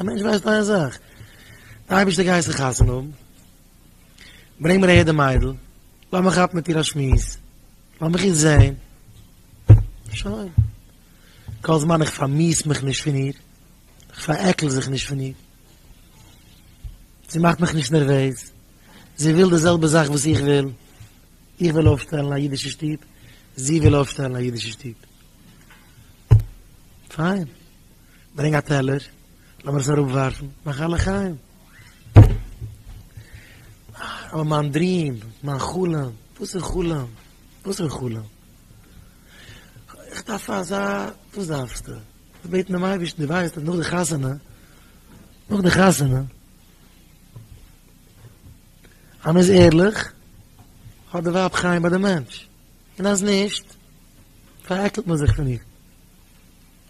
א מענטש ווייסט איין זאך, די אייבערשטער גייסט זיך חתונה האבן, ברענג מיר אהער די מיידל, לאמיר כאפן מיט איר א שמועס, לאמיך איר זען, שוין, כל זמן איך פארמיס מיך נישט פון איר, איך פארעקל זיך נישט פון איר, זי מאכט מיך נישט נערוועז, זי וויל די זעלבע זאך וואס איך וויל, איך וויל אויפשטעלן א אידישע שטוב, זי וויל אויפשטעלן א אידישע שטוב. פיין, ברענג א טעלער, לאמיר עס אראפווארפן, מאך א לחיים. אבער מיין דריעם, מיין חלום, וואס איז חלום? וואס איז חלום? איך דארף אזא, וואס דארפסטו? איך בעט דעם אייבערשטן, דו ווייסט אז נאך די חתונה, נאך די חתונה, אז מען איז ערליך, האט די ווייב חיים ביי די מענטש, און אז נישט, פארעקלט מען זיך פון איר.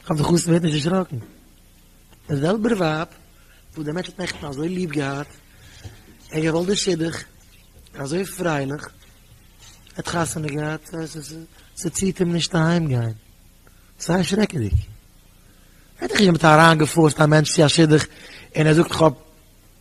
כ'האף די חתן ווערט נישט דערשראקן. דער זעלבער ווייב וואס דער מענטש האט נעכטן אזוי ליב געהאט, און געוואלט די שידוך, אזוי פרייליך, האט חתונה געהאט, ס'ציט אים נישט אהיים גיין. ס'איז שרעקעדיג. ס'איז נישט ווי מ'האט אריינגעפארסט א מענטש צו א שידוך און ער זאגט כ'האב.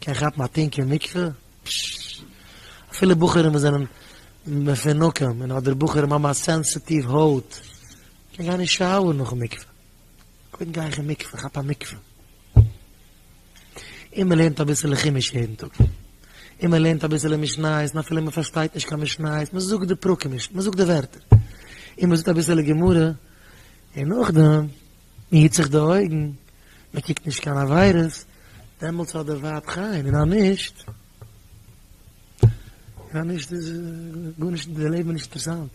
קען כאפן א טונק אין מקווה? פששש. אפילו בחורים וואס זענען מפונקים און אדער בחורים האבן א סענסעטיוו הויט, קען גיין אין שאוער נאכן מקווה. קודם גיי איך אין מקווה, כאפ א מקווה. און מען לערנט אביסעלע חומש יעדן טאג. און מען לערנט אביסעלע משניות און אפילו מען פארשטייט נישט קיין משניות, מען זאגט די פרקים, מען זאגט די ווערטער. און מען זאגט אביסעלע גמרא. און נאכדעם מען היט זיך די אויגן, מען קוקט נישט קיין עבירות, דעמאלטס האט דער ווייב חן, און אז נישט, און אז נישט איז גארנישט, די לעבן איז נישט אינטערעסאנט.